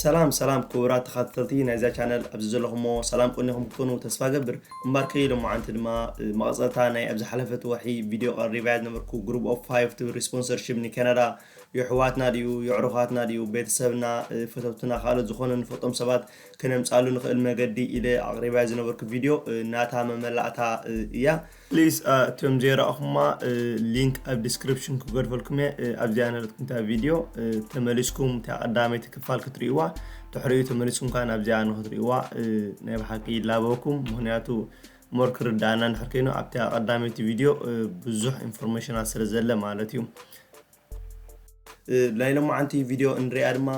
ሰላም ሰላም ክቡራት ተኻተተልቲ ናይዛ ቻነል ኣብዚ ዘለኹሞ ሰላም ቁኒኹም ክትኮኑ ተስፋ እገብር እምባርከይ ሎማዓንቲ ድማ መቐጸልታ ናይ ኣብ ዝሓለፈት ወርሒ ቪድዮ ቀሪባያ ዝነበርኩ ግሩፕ ኦፍ ፋይቭ ትብል ሪስፖንሰርሺፕ ንካናዳ የሕዋትና ድዩ የዕሩኻትና ድዩ ቤተሰብና ፈተውትና ካልኦት ዝኾነ ንፈልጦም ሰባት ከነምጻሉ ንኽእል መገዲ ኢለ ኣቕሪባያ ዝነበርኩ ቪድዮ ናታ መመላእታ እያ Please እቶም ዘይረኣኹማ ሊንክ ኣብ ዲስክሪፕሽን ክገድፈልኩም እየ ኣብዚኣ ነረትኩም እታ ቪድዮ ተመሊስኩም እታ ቀዳመይቲ ክፋል ክትርእይዋ ድሕሪኡ ተመሊስኩም ከዓ ናብዚኣ ንክትርእይዋ ናይ ብሓቂ ይላበወኩም ምክንያቱ ሞር ክርዳእና እንድሕር ኮይኑ ኣብታ ቀዳመይቲ ቪድዮ ብዙሕ ኢንፎርሜሽናት ስለ ዘለ ማለት እዩ ናይ ሎማዓንቲ ቪድዮ እንሪኣ ድማ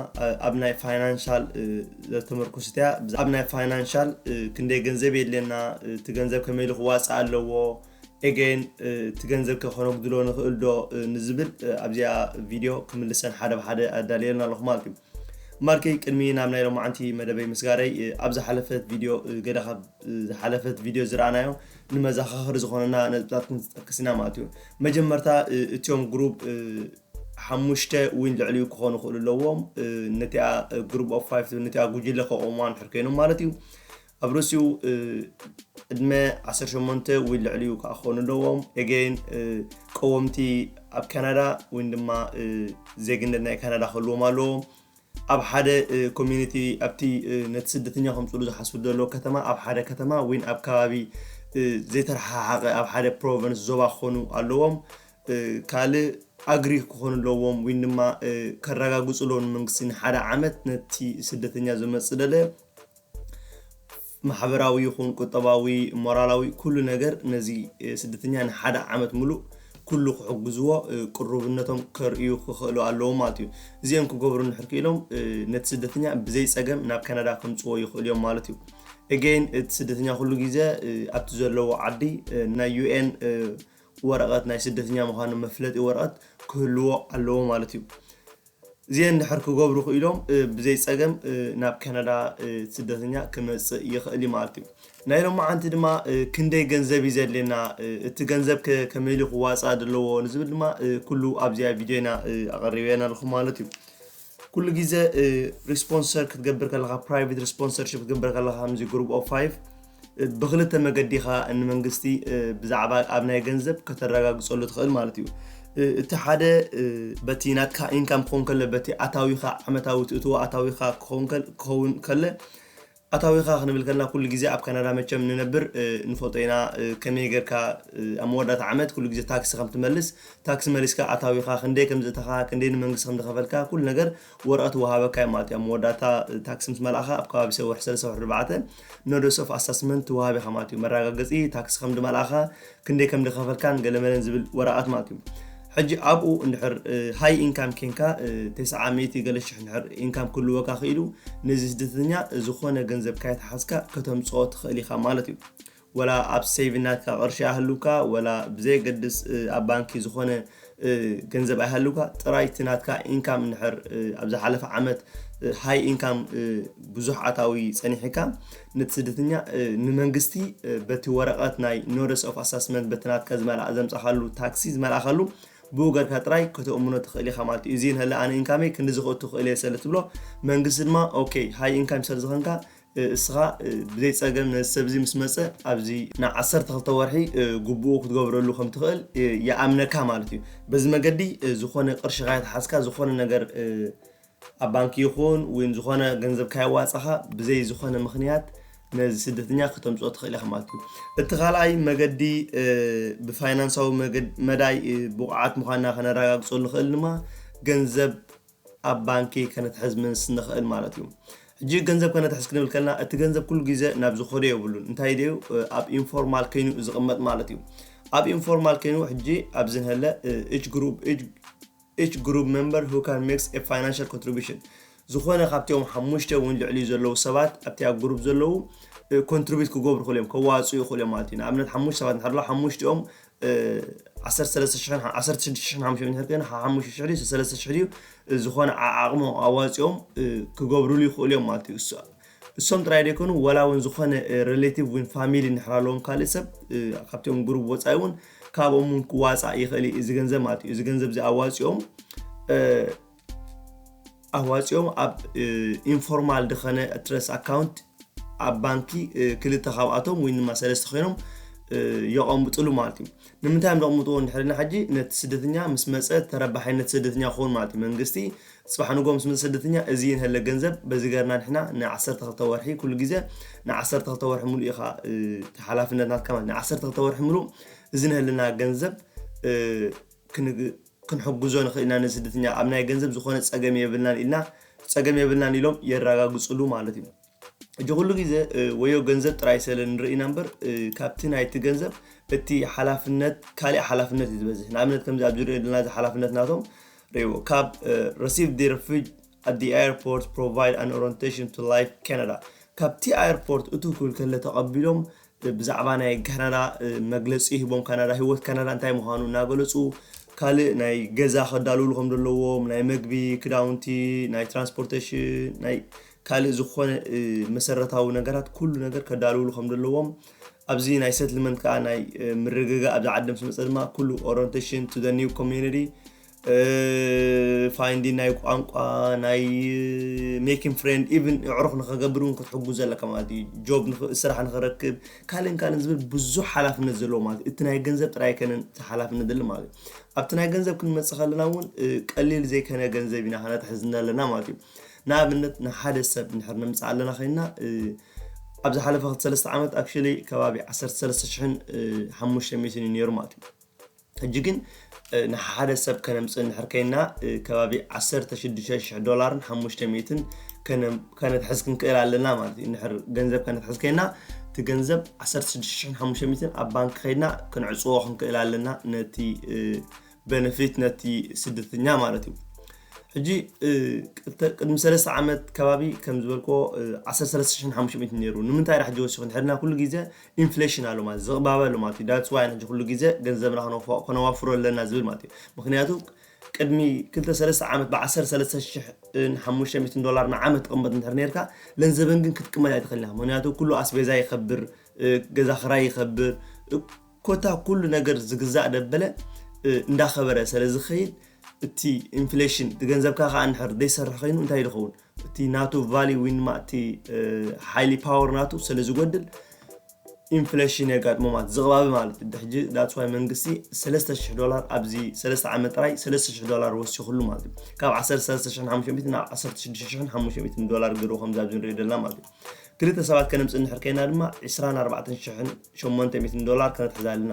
ኣብ ናይ ፋይናንሻል ዘተመርኩስት እያ ኣብ ናይ ፋይናንሻል ክንደይ ገንዘብ የድልየና እቲ ገንዘብ ከመይ ኢሉ ክዋፃእ ኣለዎ ኤገይን እቲ ገንዘብ ከ ከነጉድሎ ንኽእል ዶ ንዝብል ኣብዚኣ ቪድዮ ክምልሰን ሓደ ብሓደ ኣዳልየልና ኣለኹ ማለት እዩ ማርከይ ቅድሚ ናብ ናይ ሎማዓንቲ መደበይ ምስጋረይ ኣብ ዝሓለፈት ቪድዮ ገለ ካብ ዝሓለፈት ቪድዮ ዝረኣናዮ ንመዛኻኽሪ ዝኾነና ነጥብታት ክንጠቅስ ኢና ማለት እዩ። መጀመርታ እቲኦም ግሩብ ሓሙሽተ ዊን ልዕሊኡ ክኾኑ ይኽእሉ ኣለዎም ነቲኣ ግሩብ ኦፍ ፋይቭ ትብል ነቲኣ ጉጅለ ከቆምዋ ንድሕር ኮይኖም ማለት እዩ። ኣብ ርእሲኡ ዕድመ 18 ወይ ልዕሊኡ ከዓ ክኾኑ ኣለዎም ኤገይን ቀወምቲ ኣብ ካናዳ ወይ ድማ ዜግነት ናይ ካናዳ ክህልዎም ኣለዎም ኣብ ሓደ ኮሚኒቲ ኣብቲ ነቲ ስደተኛ ከምጽእሉ ዝሓስቡ ዘለዎ ከተማ ኣብ ሓደ ከተማ ወይን ኣብ ከባቢ ዘይተረሓሓቐ ኣብ ሓደ ፕሮቨንስ ዞባ ክኾኑ ኣለዎም ካልእ ኣግሪ ክኾኑ ኣለዎም ወይን ድማ ከረጋግጹ ኣለዎም ንመንግስቲ ንሓደ ዓመት ነቲ ስደተኛ ዝመጽእ ደለ ማሕበራዊ ይኹን ቁጠባዊ ሞራላዊ ኩሉ ነገር ነዚ ስደተኛ ንሓደ ዓመት ምሉእ ኩሉ ክሕግዝዎ ቅሩብነቶም ከርእዩ ክኽእሉ ኣለዎም ማለት እዩ እዚኦም ክገብሩ እንድሕር ክኢሎም ነቲ ስደተኛ ብዘይ ፀገም ናብ ካናዳ ከምፅዎ ይኽእሉ እዮም ማለት እዩ ኤጌን እቲ ስደተኛ ኩሉ ግዜ ኣብቲ ዘለዎ ዓዲ ናይ ዩኤን ወረቐት ናይ ስደተኛ ምዃኑ መፍለጢ ወረቐት ክህልዎ ኣለዎ ማለት እዩ እዚኤን ድሕር ክገብሩ ክኢሎም ብዘይ ጸገም ናብ ካናዳ ስደተኛ ክመጽእ ይኽእል እዩ ማለት እዩ። ናይ ሎማዓንቲ ድማ ክንደይ ገንዘብ እዩ ዘድልየና እቲ ገንዘብ ከ ከመይ ኢሉ ክዋጻእ ደለዎ ንዝብል ድማ ኩሉ ኣብዚኣ ቪድዮ ኢና ኣቐሪበየን ኣለኹ ማለት እዩ። ኩሉ ግዜ ሪስፖንሰር ክትገብር ከለኻ ፕራይቬት ሪስፖንሰርሺፕ ክትገብር ከለኻ ከምዚ ግሩፕ ኦፍ ፋይቭ ብክልተ መገዲ ኢኻ ንመንግስቲ ብዛዕባ ኣብ ናይ ገንዘብ ከተረጋግፀሉ ትኽእል ማለት እዩ። እቲ ሓደ በቲ ናትካ ኢንካም ክኸውን ከለ በቲ ኣታዊኻ ዓመታዊ ትእትዎ ኣታዊኻ ክኸውን ከለ ኣታዊኻ ክንብል ከለና ኩሉ ግዜ ኣብ ካናዳ መቸም ንነብር ንፈልጦ ኢና ከመይ ጌርካ ኣብ መወዳእታ ዓመት ኩሉ ግዜ ታክሲ ከም ትመልስ ታክሲ መሊስካ ኣታዊኻ ክንደይ ከም ዘእተኻ ክንደይ ንመንግስቲ ከም ዝኸፈልካ ኩሉ ነገር ወረቐት ይወሃበካ'ዩ ማለት እዩ። ኣብ መወዳእታ ታክሲ ምስ መልኣኻ፣ ኣብ ከባቢ ሰውሕ ሰለስተ ወርሒ ኣርባዕተ፣ Notice of Assessment፣ ትወሃብ ኢኻ ማለት እዩ። መረጋገጺ ታክሲ ከም ዝመልኣኻ፣ ክንደይ ከም ዝኸፈልካን ገለመለን ዝብል ወረቓት ማለት እዩ። ሕጂ ኣብኡ እንድሕር ሃይ ኢንካም ኴንካ፣ ተስዓ ሚእቲ ገለ ሽሕ እንድሕር ኢንካም ክህልወካ ክኢሉ፣ ነዚ ስደተኛ ዝኾነ ገንዘብ ካይተሓዝካ ከተምጽኦ ትኽእል ኢኻ ማለት እዩ። ወላ ኣብ ሰይቭ ናትካ ቅርሺ ኣይሃሉካ ወላ ብዘየገድስ ኣብ ባንኪ ዝኾነ ገንዘብ ኣይሃሉካ ጥራይ እቲ ናትካ ኢንካም እንድሕር ኣብ ዝሓለፈ ዓመት ሃይ ኢንካም ብዙሕ ኣታዊ ጸኒሕካ ነቲ ስደተኛ ንመንግስቲ በቲ ወረቐት ናይ ኖደስ ኦፍ ኣሳስመንት በቲ ናትካ ዝመልኣ ዘምጻኻሉ ታክሲ ዝመልኣኻሉ ብኡ ገርካ ጥራይ ከተእምኖ ትኽእል ኢኻ ማለት እዩ እዚ ንህለ ኣነ ኢንካመይ ክንዲ ዝኽእቱ ክእል እየ ሰለ ትብሎ መንግስቲ ድማ ኦኬ ሃይ ኢንካም ሰለ ዝኾንካ እስኻ ብዘይ ጸገም ነዚ ሰብ እዚ ምስ መጸ ኣብዚ ን ዓሰርተ ክልተ ወርሒ ጉቡኡ ክትገብረሉ ከም ትኽእል ይኣምነካ ማለት እዩ። በዚ መገዲ ዝኾነ ቅርሺ ካይትሓዝካ ዝኾነ ነገር ኣብ ባንኪ ይኹን ወይ ዝኾነ ገንዘብ ካየዋጻኻ ብዘይ ዝኾነ ምኽንያት ነዚ ስደተኛ ከተምጽኦ ትኽእል ኢኻ ማለት እዩ። እቲ ካልኣይ መገዲ ብፋይናንሳዊ መዳይ ብቑዓት ምዃንና ከነራጋግጸሉ ንኽእል ድማ ገንዘብ ኣብ ባንኪ ከነትሕዝ ምስ ንኽእል ማለት እዩ። ሕጂ ገንዘብ ከነትሕዝ ክንብል ከለና እቲ ገንዘብ ኩሉ ግዜ ናብ ዝኸዶ የብሉን እንታይ ደዩ ኣብ ኢንፎርማል ከይኑ ዝቕመጥ ማለት እዩ። ኣብ ኢንፎርማል ከይኑ ሕጂ ኣብዚ ንሀለ ኢች ግሩፕ ኢች ግሩፕ ሜምበር ሁ ካን ሜክስ ኤ ፋይናንሻል ኮንትሪቢሽን ዝኾነ ካብቲኦም ሓሙሽተ እውን ልዕሊኡ ዘለዉ ሰባት ኣብቲኣ ግሩፕ ዘለዉ ኮንትሪቢዩት ክገብሩ ይኽእሉ እዮም ከዋፅኡ ይኽእሉ እዮም ማለት እዩ። ንኣብነት ሓሙሽተ ሰባት እንድሕር ሓሙሽቲኦም ዓሰርተ ሰለስተ ሽሕን ሓ- ዓሰርተ ሽዱሽተ ሽሕን ሓሙሽተ ሚእቲ እንተኮይኑ ሓ- ሓሙሽተ ሽሕ ድዩ ሰለስተ ሽሕ ድዩ እ፣ ዝኾነ ዓዓቕሞ ኣዋፂኦም እ፣ ክገብሩሉ ይኽእሉ እዮም ማለት እዩ እሱ- እሶም ጥራይ ደይኮኑ ወላ እውን ዝኾነ ሬሌቲቭ ወይ ፋሚሊ እንድሕር ኣለዎም ካልእ ሰብ እ፣ ካብቲኦም ግሩብ ወፃኢ እውን ካብኦም እውን ክዋፃእ ይኽእል እዩ እዚ ገንዘብ ማለት እዩ እዚ ገንዘብ እዚ ኣዋፂኦም እ፣ ኣዋጺኦም ኣብ ኢንፎርማል ድኸነ ትረስ ኣካውንት ኣብ ባንኪ ክልተ ካብኣቶም ወይ ድማ ሰለስተ ኮይኖም የቐምጥሉ ማለት እዩ ንምንታይ እዮም ዘቕምጥዎ ንድሕሪና ሕጂ ነቲ ስደተኛ ምስ መፀ ተረባሓይነት ስደተኛ ክኸውን ማለት እዩ መንግስቲ ፅባሕ ንጎ ምስ መፀ ስደተኛ እዚ ንህለ ገንዘብ በዚ ገርና ንሕና ንዓሰርተ ክልተ ወርሒ ኩሉ ግዜ ንዓሰርተ ክልተ ወርሒ ሙሉ ኢኻ ሓላፍነት ናትካ ማለት ንዓሰርተ ክልተ ወርሒ ሙሉ እዚ ንህልና ገንዘብ ክንሕግዞ ንኽእል ኢና ነዚ ስደተኛ ኣብ ናይ ገንዘብ ዝኾነ ጸገም የብልናን ኢልና ጸገም የብልናን ኢሎም የራጋግጽሉ ማለት እዩ እጂ ኩሉ ግዜ ወዮ ገንዘብ ጥራይ ሰለ ንርኢ ኢና እምበር ካብቲ ናይቲ ገንዘብ እቲ ሓላፍነት ካሊእ ሓላፍነት እዩ ዝበዝሕ ንኣብነት ከምዚ ኣብዚ ንሪኦ ዘለና እዚ ሓላፍነት ናቶም ሪዎ ካብ ረሲቭ ዲ ረፊጅ at the airport provide an orientation to life Canada ካብቲ ኣየርፖርት እቱ ክብል ከለ ተቐቢሎም ብዛዕባ ናይ ካናዳ መግለጺ ሂቦም ካናዳ ሂወት ካናዳ እንታይ ምዃኑ እናገለጹ ካልእ ናይ ገዛ ከዳልውሉ ከም ዘለዎም ናይ መግቢ ክዳውንቲ ናይ ትራንስፖርተሽን ናይ ካልእ ዝኾነ መሰረታዊ ነገራት ኩሉ ነገር ከዳልውሉ ከም ዘለዎም ኣብዚ ናይ ሰትልመንት ከዓ ናይ ምርግጋእ ኣብዚ ዓዲ ምስ መፀ ድማ ኩሉ ኦረንቴሽን ቱ ዘ ኒው ኮሚዩኒቲ ፋይንዲን ናይ ቋንቋ ናይ ሜኪን ፍሬንድ ኢቭን ኣዕሩኽ ንኸገብር እውን ክትሕግዞ ኣለካ ማለት እዩ ጆብ ስራሕ ንኽረክብ ካልእን ካልእን ዝብል ብዙሕ ሓላፍነት ዘለዎ ማለት እዩ እቲ ናይ ገንዘብ ጥራይ ኣይከነን እቲ ሓላፍነት ዘለ ማለት እዩ ኣብቲ ናይ ገንዘብ ክንመፅእ ከለና እውን ቀሊል ዘይከነ ገንዘብ ኢና ከነትሕዝ ኣለና ማለት እዩ ንኣብነት ንሓደ ሰብ ንድሕር ነምፅእ ኣለና ኮይንና ኣብ ዝሓለፈ ክልተ ሰለስተ ዓመት ኣክቹዋሊ ከባቢ ዓሰርተ ሰለስተ ሽሕን ሓሙሽተ ሚእትን እዩ ነይሩ ማለት እዩ ሕጂ ግን ንሓሓደ ሰብ ከነምጽእ እንድሕር ኴንና ከባቢ ዓሰርተ ሽዱሽተ ሽሕ ዶላርን ሓሙሽተ ሚእትን ከነትሕዝ ክንክእል ኣለና ማለት እዩ። እንድሕር ገንዘብ ከነትሕዝ ኴንና እቲ ገንዘብ ዓሰርተ ሽዱሽተ ሽሕን ሓሙሽተ ሚእትን ኣብ ባንክ ኸይድና ክንዕጽዎ ክንክእል ኣለና ነቲ በነፊት ነቲ ስደተኛ ማለት እዩ። ሕጂ ቅድሚ ሰለስተ ዓመት ከባቢ ከም ዝበልክዎ ዓሰርተ ሰለስተ ሽሕን ሓሙሽተ ሚእትን ነይሩ ንምንታይ ዳኣ ሕጂ ወሲኹ እንድሕር ኢልና ኩሉ ግዜ ኢንፍሌሽን ኣሎ ማለት ዝቕባበ ኣሎ ማለት እዩ ዳትስ ዋይ ሕጂ ኩሉ ግዜ ገንዘብና ክነውፍ- ከነዋፍሮ ኣለና ዝብል ማለት እዩ ምኽንያቱ ቅድሚ ክልተ ሰለስተ ዓመት ብዓሰርተ ሰለስተ ሽሕን ሓሙሽተ ሚእትን ዶላር ንዓመት ትቕመጥ እንድሕር ነርካ ለንዘበን ግን ክትቅመጥ ኣይትኽእልን ኢኻ ምኽንያቱ ኩሉ ኣስቤዛ ይኸብር ገዛ ክራይ ይኸብር ኮታ ኩሉ ነገር ዝግዛእ ደበለ እንዳኸበረ ሰለዝኸይድ እቲ ኢንፍሌሽን እቲ ገንዘብካ ከኣ እንድሕር ዘይሰርሕ ከይኑ እንታይ እዩ ዝኸውን እቲ ናቱ ቫሊ ዊን ማእቲ ሓይሊ ፓወር ናቱ ስለ ዝጎድል ኢንፍሌሽን የጋጥሞ ማለት ዝቕባቢ ማለት እዩ ሕጂ ዳፅዋይ መንግስቲ 3000 ዶላር ኣብዚ 3 ዓመት ጥራይ 3000 ዶላር ወሲኹሉ ማለት እዩ ካብ 13500 ናብ 16500 ዶላር ገይሩ ከምዚ ኣብዚ ንሪኦ ዘለና ማለት እዩ ክልተ ሰባት ከነምፅእ እንድሕር ከይና ድማ 24800 ዶላር ከነትሕዛ ኣለና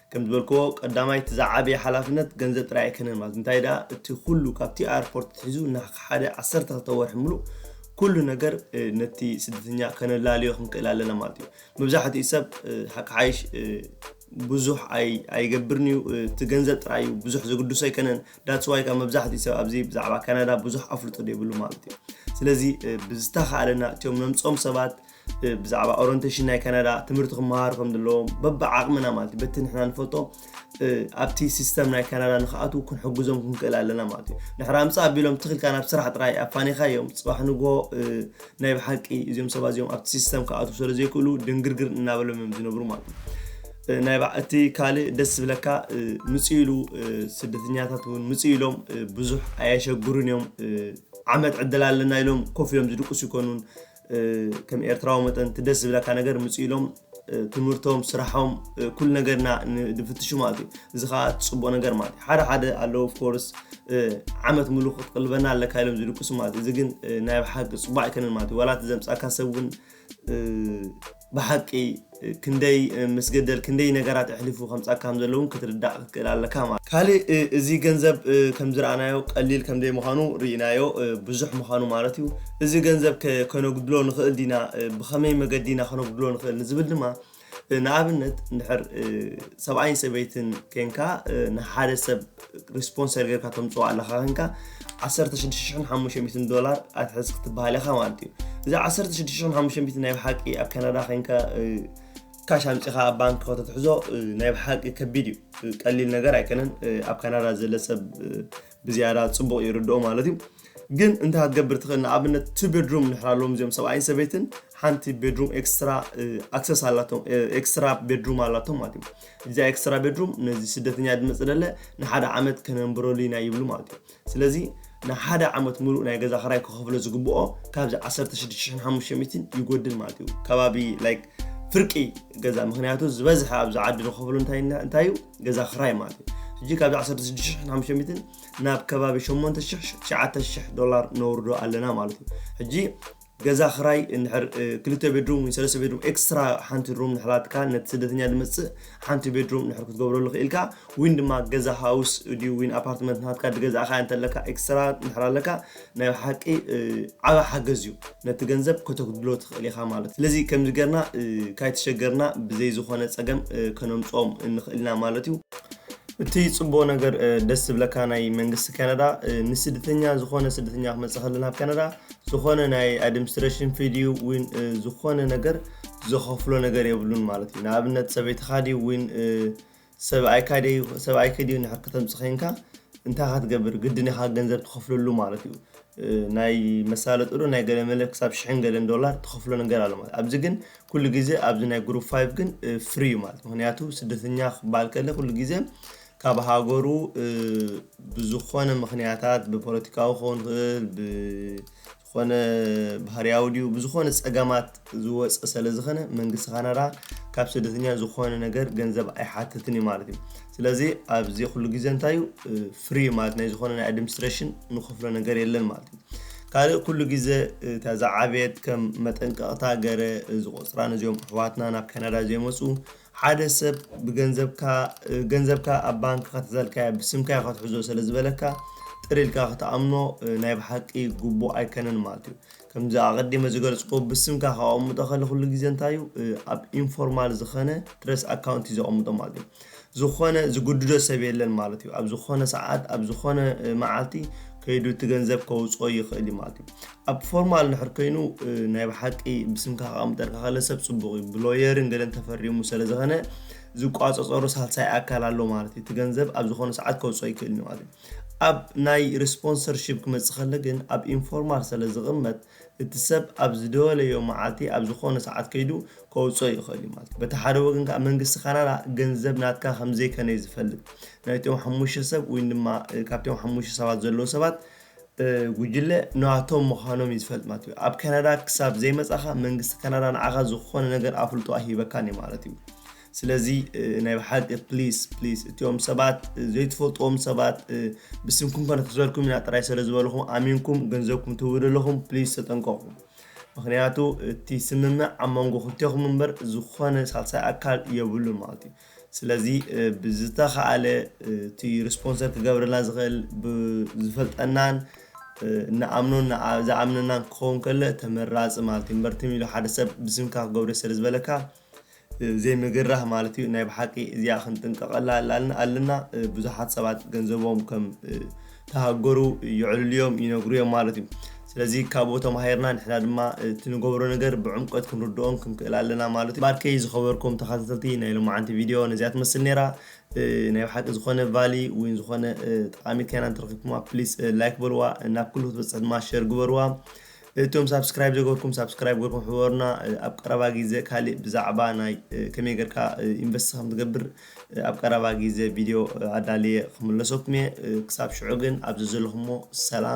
ከም ዝበልክዎ ቀዳማይ እቲ ዝዓበየ ሓላፍነት ገንዘብ ጥራይ ኣይከነን ማለት እንታይ ድኣ እቲ ኩሉ ካብቲ ኣየርፖርት ኣትሒዙ ንሓደ ዓሰርተ ክልተ ወርሒ ምሉእ ኩሉ ነገር ነቲ ስደተኛ ከነላልዮ ክንክእል ኣለና ማለት እዩ መብዛሕትኡ ሰብ ሓቂ ሓይሽ ብዙሕ ኣይገብርን እዩ እቲ ገንዘብ ጥራይ እዩ ብዙሕ ዝግድሶ ኣይከነን ዳፅዋይ ካብ መብዛሕትኡ ሰብ ኣብዚ ብዛዕባ ካናዳ ብዙሕ ኣፍልጦ ዘይብሉ ማለት እዩ ስለዚ ብዝተኻእለና እትዮም ነምፆም ሰባት ብዛዕባ ኦረንቴሽን ናይ ካናዳ ትምህርቲ ክመሃሩ ከም ዘለዎም በብዓቕምና ማለት እዩ በቲ ንሕና ንፈልጦ ኣብቲ ሲስተም ናይ ካናዳ ንክኣትዉ ክንሕግዞም ክንክእል ኣለና ማለት እዩ ድሕሪ ኣምፃ ኣቢሎም ትኽልካ ናብ ስራሕ ጥራይ ኣፋኒኻ እዮም ፅባሕ ንግሆ ናይ ብሓቂ እዚኦም ሰባት እዚኦም ኣብቲ ሲስተም ክኣትዉ ስለ ዘይክእሉ ድንግርግር እናበሎም እዮም ዝነብሩ ማለት እዩ ናይ እቲ ካልእ ደስ ዝብለካ ምፅ ኢሉ ስደተኛታት እውን ምፅ ኢሎም ብዙሕ ኣየሸግሩን እዮም ዓመት ዕድል ኣለና ኢሎም ኮፍ ኢሎም ዝድቅሱ ይኮኑን ከም ኤርትራዊ መጠን እቲ ደስ ዝብለካ ነገር ምፅኡ ኢሎም ትምህርቶም ስራሖም ኩሉ ነገርና ንፍትሹ ማለት እዩ እዚ ከዓ ፅቡቅ ነገር ማለት እዩ ሓደ ሓደ ኣለዉ ኮርስ ዓመት ሙሉ ክትቅልበና ኣለካ ኢሎም ዝልቅሱ ማለት እዩ እዚ ግን ናይ ብሓቂ ፅቡቅ ኣይከነን ማለት እዩ ዋላ እቲ ዘምፃካ ሰብ እውን ብሓቂ ክንደይ ምስገደል ክንደይ ነገራት ኣሕሊፉ ከምጻካ ከምዘሎ ውን ክትርዳእ ክትክእል ኣለካ ማለት። ካልእ እዚ ገንዘብ ከምዝረኣናዮ ቀሊል ከምዘይምኻኑ ሪኢናዮ ብዙሕ ምኻኑ ማለት እዩ። እዚ ገንዘብ ከ ከነጉድሎ ንክእል ዲና ብከመይ መገዲ ኢና ከነጉድሎ ንክእል ንዝብል ድማ ንኣብነት እንድሕር ሰብኣይን ሰበይትን ኬንካ ንሓደ ሰብ፣ ስፖንሰር ጌርካ ተምፅኦ ኣለኻ ኮንካ ዓሰርተ ሽዱሽተ ሽሕን ሓሙሽተ ሚእትን ዶላር ኣትሕዝ ክትበሃል ኢኻ ማለት እዩ እዚ ዓሰርተ ሽዱሽተ ሽሕን ሓሙሽተ ሚእትን ናይ ብሓቂ ኣብ ካናዳ ኮንካ ካሽ ኣምፂኻ ኣብ ባንክ ከተትሕዞ ናይ ብሓቂ ከቢድ እዩ ቀሊል ነገር ኣይኮነን ኣብ ካናዳ ዘለ ሰብ ብዝያዳ ፅቡቕ ይርድኦ ማለት እዩ ግን እንታይ ክትገብር ትኽእል ንኣብነት ቱ ቤድሩም ንሕር ኣለዎም እዚኦም ሰብኣይን ሰበይትን ሓንቲ ቤድሩም ኤክስትራ ኣክሰስ ኣላቶም ኤክስትራ ቤድሩም ኣላቶም ማለት እዩ እዛ ኤክስትራ ቤድሩም ነዚ ስደተኛ ድመፅ ደለ ንሓደ ዓመት ከነንብረሉ ኢና ይብሉ ማለት እዩ ስለዚ ንሓደ ዓመት ሙሉእ ናይ ገዛ ክራይ ክኸፍሎ ዝግብኦ ካብዚ 16500 ይጎድል ማለት እዩ ከባቢ ላይክ ፍርቂ ገዛ ምክንያቱ ዝበዝሐ ኣብዚ ዓዲ ንኸፍሎ እንታይ እንታይ እዩ ገዛ ክራይ ማለት እዩ ሕጂ ካብዚ 16500 ናብ ከባቢ 8000 9000 ዶላር ነውርዶ ኣለና ማለት እዩ ሕጂ ገዛ ክራይ እንድሕር ክልተ ቤድሩም ወይ ሰለስተ ቤድሩም ኤክስትራ ሓንቲ ሩም ንሕላትካ ነቲ ስደተኛ ድመጽእ ሓንቲ ቤድሩም ንድሕር ክትገብረሉ ክኢልካ ዊን ድማ ገዛ ሃውስ ድዩ ዊን ኣፓርትመንት ናትካ ድገዛእካ እንተለካ ኤክስትራ ንድሕር ኣለካ ናይ ሓቂ ዓበ ሓገዝ እዩ ነቲ ገንዘብ ከተጉድሎ ትኽእል ኢኻ ማለት ስለዚ ከምዚ ገርና ካይተሸገርና ብዘይ ዝኾነ ጸገም ከነምጽኦም እንኽእል ኢና ማለት እዩ እቲ ጽቡቅ ነገር ደስ ዝብለካ ናይ መንግስቲ ካናዳ ንስደተኛ ዝኾነ ስደተኛ ክመጽእ ከሎ ናብ ካናዳ ዝኾነ ናይ ኣድምስትረሽን ፊ ድዩ ዊን ዝኾነ ነገር ዘኸፍሎ ነገር የብሉን ማለት እዩ ንኣብነት ሰበይትኻ ድዩ ዊን ሰብኣይካ ድዩ ሰብኣይኪ ድዩ ንሕር ከተምፅ ኸንካ እንታይ ኻ ትገብር ግድን ኢኻ ገንዘብ ትኸፍለሉ ማለት እዩ ናይ መሳለጥዶ ናይ ገለ መለ ክሳብ ሽሕን ገለን ዶላር ትኸፍሎ ነገር ኣሎ ማለት ኣብዚ ግን ኩሉ ግዜ ኣብዚ ናይ ግሩፕ ፋይቭ ግን ፍሪ እዩ ማለት ምክንያቱ ስደተኛ ክበሃል ከለ ኩሉ ግዜ ካብ ሃገሩ ብዝኾነ ምኽንያታት ብፖለቲካዊ ክኸውን ይኽእል ብዝኾነ ባህርያዊ ድዩ ብዝኾነ ጸገማት ዝወጸ ሰለ ዝኸነ መንግስቲ ካናዳ ካብ ስደተኛ ዝኾነ ነገር ገንዘብ ኣይሓትትን እዩ ማለት እዩ። ስለዚ ኣብዚ ኩሉ ግዜ እንታይ እዩ ፍሪ እዩ ማለት ናይ ዝኾነ ናይ ኣድምስትረሽን ንኸፍሎ ነገር የለን ማለት እዩ። ካልእ ኩሉ ግዜ እታ ዝዓበየት ከም መጠንቀቕታ ገረ ዝቖጽራ ነዚኦም ኣሕዋትና ናብ ካናዳ ዘይመጹ ሓደ ሰብ ብገንዘብካ ገንዘብካ ኣብ ባንክ ከተዘልካዮ ብስምካዮ ከትሕዞ ስለ ዝበለካ ጥር ኢልካ ክትኣምኖ ናይ ብሓቂ ግቡእ ኣይከነን ማለት እዩ ከምዚ ኣቐዲመ ዝገልጽኩዎ ብስምካ ከቐምጦ ከለ ኩሉ ግዜ እንታይ እዩ ኣብ ኢንፎርማል ዝኸነ ትረስ ኣካውንቲ እዩ ዘቐምጦ ማለት እዩ ዝኾነ ዝግድዶ ሰብ የለን ማለት እዩ ኣብ ዝኾነ ሰዓት ኣብ ዝኾነ መዓልቲ ከይዱ እቲ ገንዘብ ከውጽኦ ይኽእል እዩ ማለት እዩ ኣብ ፎርማል ንሕር ከይኑ ናይ ብሓቂ ብስምካ ከቀምጠልካ ከለ ሰብ ጽቡቅ እዩ ብሎየርን ገለን ተፈሪሙ ስለ ዝኸነ ዝቋጸጸሮ ሳልሳይ ኣካል ኣሎ ማለት እዩ እቲ ገንዘብ ኣብ ዝኾነ ሰዓት ከውጽኦ ይክእል እዩ ማለት እዩ ኣብ ናይ ሪስፖንሰርሽፕ ክመጽእ ከለ ግን ኣብ ኢንፎርማል ስለ ዝቕመጥ እቲ ሰብ ኣብ ዝደወለዮ መዓልቲ ኣብ ዝኾነ ሰዓት ከይዱ ከውፅኦ ይኽእል እዩ ማለት በቲ ሓደ ወገን ከዓ መንግስቲ ካናዳ ገንዘብ ናትካ ከምዘይከነ እዩ ዝፈልጥ ናይቶም ሓሙሽተ ሰብ ወይ ድማ ካብቶም ሓሙሽተ ሰባት ዘለዉ ሰባት ጉጅለ ንዋቶም ምዃኖም እዩ ዝፈልጥ ማለት እዩ። ኣብ ካናዳ ክሳብ ዘይመጻኻ መንግስቲ ካናዳ ንዓኻ ዝኾነ ነገር ኣፍልጦ ኣይሂበካን እዩ ማለት እዩ። ስለዚ ናይ ብሓቂ ፕሊስ ፕሊስ እቲኦም ሰባት ዘይትፈልጥዎም ሰባት ብስምኩም ከነትሕዘልኩም ኢና ጥራይ ስለ ዝበልኹም ኣሚንኩም ገንዘብኩም ትህቡ ዘለኹም ፕሊስ ተጠንቀቑ ምክንያቱ እቲ ስምምዕ ኣብ መንጎ ክልቴኹም እምበር ዝኾነ ሳልሳይ ኣካል የብሉን ማለት እዩ። ስለዚ ብዝተኻእለ እቲ ርስፖንሰር ክገብረልና ዝኽእል ብዝፈልጠናን ንኣምኖን ዝኣምነናን ክኸውን ከሎ ተመራጺ ማለት እዩ። እምበር ትም ኢሉ ሓደ ሰብ ብስምካ ክገብሮ ስለ ዝበለካ ዘይምግራህ ማለት እዩ። ናይ ብሓቂ እዚኣ ክንጥንቀቐላ ኣለና። ብዙሓት ሰባት ገንዘቦም ከም ተሃገሩ የዕልሉዮም ይነግሩዮም ማለት እዩ ስለዚ ካብኡ ተማሂርና ንሕና ድማ እቲ ንገብሮ ነገር ብዕምቆት ክንርድኦን ክንክእል ኣለና ማለት እዩ ባርከይ ዝኸበርኩም ተኻታተልቲ ናይ ሎማዓንቲ ቪድዮ ነዚኣ ትመስል ነይራ ናይ ብሓቂ ዝኾነ ቫሊ ወይ ዝኾነ ጠቃሚት ከይና እንተረኺብኩማ ፕሊስ ላይክ በልዋ ናብ ኩሉ ክትበጽሕ ድማ ሸር ግበርዋ እቶም ሳብስክራይብ ዘገርኩም ሳብስክራይብ ገርኩም ሕበሩና ኣብ ቀረባ ግዜ ካልእ ብዛዕባ ናይ ከመይ ገርካ ኢንቨስት ከም ትገብር ኣብ ቀረባ ግዜ ቪድዮ ኣዳልየ ክምለሰኩም እየ ክሳብ ሽዑ ግን ኣብዚ ዘለኹሞ ሰላም